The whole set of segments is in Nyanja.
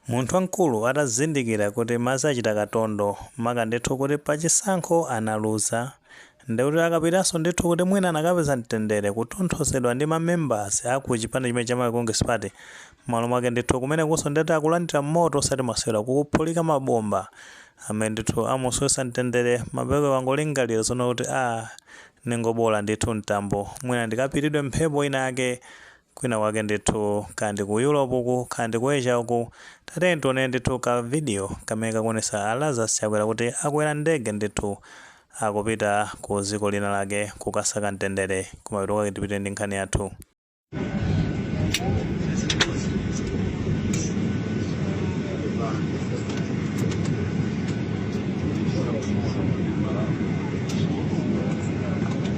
Munthu wamkulu atazindikira kuti madzi achita katondo, maka ndithu kuti pa chisankho analuza, ndekuti akapitanso ndithu kuti mwina anakapeza mtendere kutonthozedwa ndi ma members a ku chipani chimene cha Malawi Congress Party, mmalo mwake ndithu kumenekunso ndekuti akulandira moto osati masewera, kukuphulika ma bomba amene ndithu amusowetsa mtendere, mapeto wangolingalira zoona kuti aah, ndingoboola ndithu mtambo, mwina ndikapitidwe mphepo ina yake, kwina kwake ndithu kaya ndi ku Europe uku kaya ndi ku Asia uku, tatiyeni tione ndithu ka video kamene kakuonesa a Lazarus Chakwera kuti akwera ndege ndithu akupita ku dziko lina lake kukasaka mtendere. Kumapeto kwake tipite ndi nkhani yathu.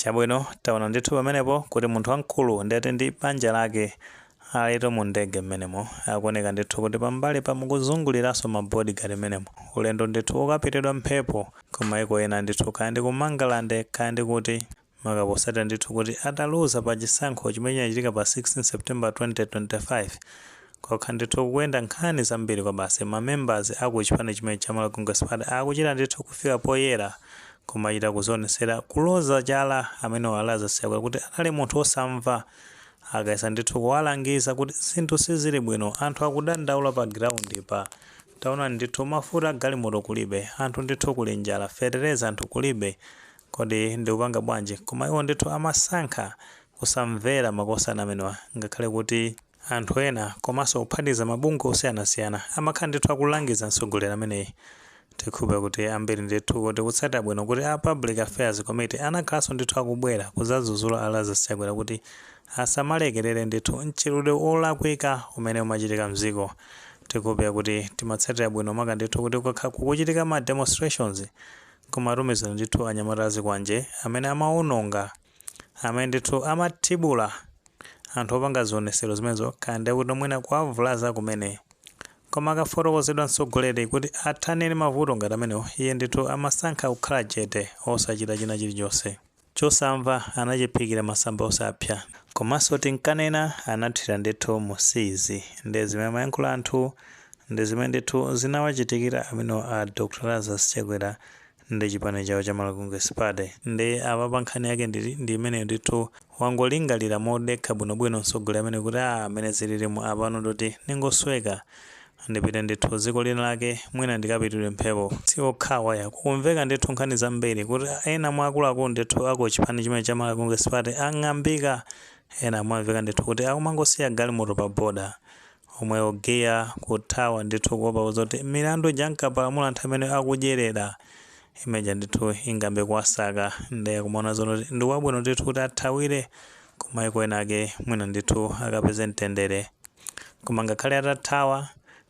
Chabwino, taona ndithu pamenepo kuti munthu wamkulu ndi uti ndi banja lake alitu mu ndege mmenemo. Akuoneka ndithu kuti pambalipa akuzunguliranso ma bodyguard mmenemo. Ulendo ndithu wokapitidwa mphepo ku maiko ena ndithu, kaya ndi ku Mangalande kaya ndi kuti, maka potsatira ndithu kuti ataluza pa chisankho chimene chinachitika pa 16 September 2025. Nkokha ndithu kukuyenda nkhani zambiri kwabasi, ma members a ku chipani chimenechi cha Malawi Congress Party akuchita ndithu kufika poyera kumachita kuzionesera kuloza chala amenewo a Lazarus Chakwera kuti anali munthu osamva akayesa ndithu kuwalangiza kuti zinthu sizili bwino, anthu akudandaula pa ground pa, taonani ndithu mafuta a galimoto kulibe, anthu ndithu kuli njala, fetereza anthu kulibe, kodi mukupanga bwanji? Koma iwo ndithu amasankha kusamvera makosana amenewa ngakhale kuti. Anthu ena komanso kuphatikiza mabungwe osiyanasiyana amakhala ndithu akulangiza mtsogoleri ameneyi. Tikukhulupilira kuti ambiri ndithu tikutsatira bwino kuti a Public Affairs Committee anakhalanso ndithu akubwera kuzadzuzula a Lazarus Chakwera kuti asamalekelele ndithu mchitidwe wolakwika umene umachitika mdziko. Tikukhulupilira kuti timatsatira bwino maka ndithu kuti kukakhala kukuchitika ma demonstrations kumatumizidwa ndithu anyamata azikwanje amene amawononga amene ndithu amathibula anthu opanga zionesero zimenezo kaya ndiye kuti mwina kuwavulaza kumene koma akafotokozedwa mtsogoleri kuti athane ndi mavuto ngati amenewo iye ndithu amasankha kukhala chete osachita china chilichonse chosamva anachiphikira masamba osapsa komanso tinkanena anathira ndithu m'siizi ndiye zimene amayankhula anthu ndi zimene ndithu zinawachitikira amenewo a dr lazarus chakwera ndi chipani chawo cha Malawi Congress Party nde apapa nkhani yake ndi imeneyo ndithu wangolingalira modekha bwinobwino mtsogoleri ameneyu kuti aah mmene zililimu apano ndikuti ndingosweka ndipite ndithu dziko lina lake mwina ndikapitidwe mphepo si okhawa ayi kukumveka ndithu nkhani zambiri kuti ena mwa akuluakulu ndithu a ku chipani chimene cha Malawi Congress Party ang'ambika ena amamveka ndithu kuti akumangosiya galimoto pa border omwe oganiza kuthawa ndithu kuopa kuzoti milandu ija ankapalamula anthu amene akudyerera limodzi aja ndithu ingayambe kuwasaka nde kumaona zonoti ndi wabwino ndithu kuti athawire kumaiko ena ake mwina ndithu akapeze mtendere koma ngakhale atathawa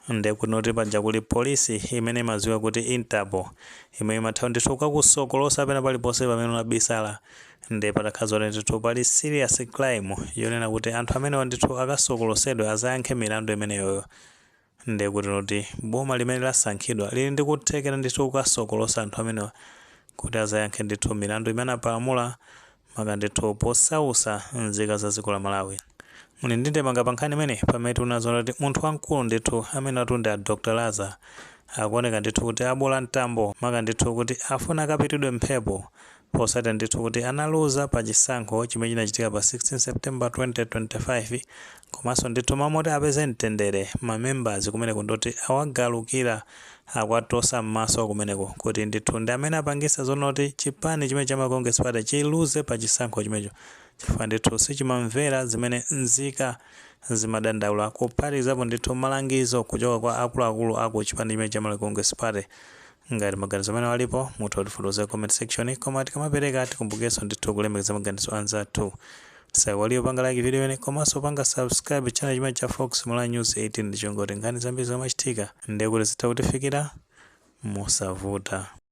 nde kuti zonoti paja kuli polisi imene imadziwika kuti interpol imene imatha ndithu kukakusokolosa pena paliponse pamene unabisala Nde patakhala zoti ndithu pali serious crime yonena kuti anthu amenewa ndithu akasokolosedwe azayankhe milandu imeneyoyo nde kuti zonoti boma limene lasankhidwa lili ndi kuthekera ndithu kukasokolosa anthu amenewa kuti azayankhe ndithu milandu imene anapalamula maka ndithu posausa nzika za dziko la Malawi. Muli ndi ndemanga pa nkhani imeneyi? Pamene tikuona zoona kuti munthu wamkulu ndithu amenewatu ndi a Dr Laza zikuoneka ndithu kuti abola mtambo maka ndithu kuti afuna akapitidwe mphepo Potsatira ndithu kuti analuza pa chisankho chimene chinachitika pa 16 September 2025 komanso ndithu mmalo moti apeze mtendere ma members kumeneko ndi oti awagalukira akwatosa mmaso kumeneko kuti ndithu ndi amene apangisa zonoti chipani chimene cha Malawi Congress party chiluze pa chisankho chimenecho chifukwa ndithu sichimamvera zimene nzika zimadandaula kuphatikizapo ndithu malangizo kuchoka kwa akuluakulu aku chipani chimene cha Malawi Congress party Ngati maganizo amenewo alipo, mutha kutifotokozera ku comment section, koma tikamapereka tikumbukirenso ndithu kulemekeza maganizo a anzathu. Tisaiwalire kupanga like video imeneyi komanso kupanga subscribe channel chimenechi cha Fox Malawi News 18 ndi cholinga choti nkhani zambiri zikamachitika ndiye kuti zitha kutifikira mosavuta.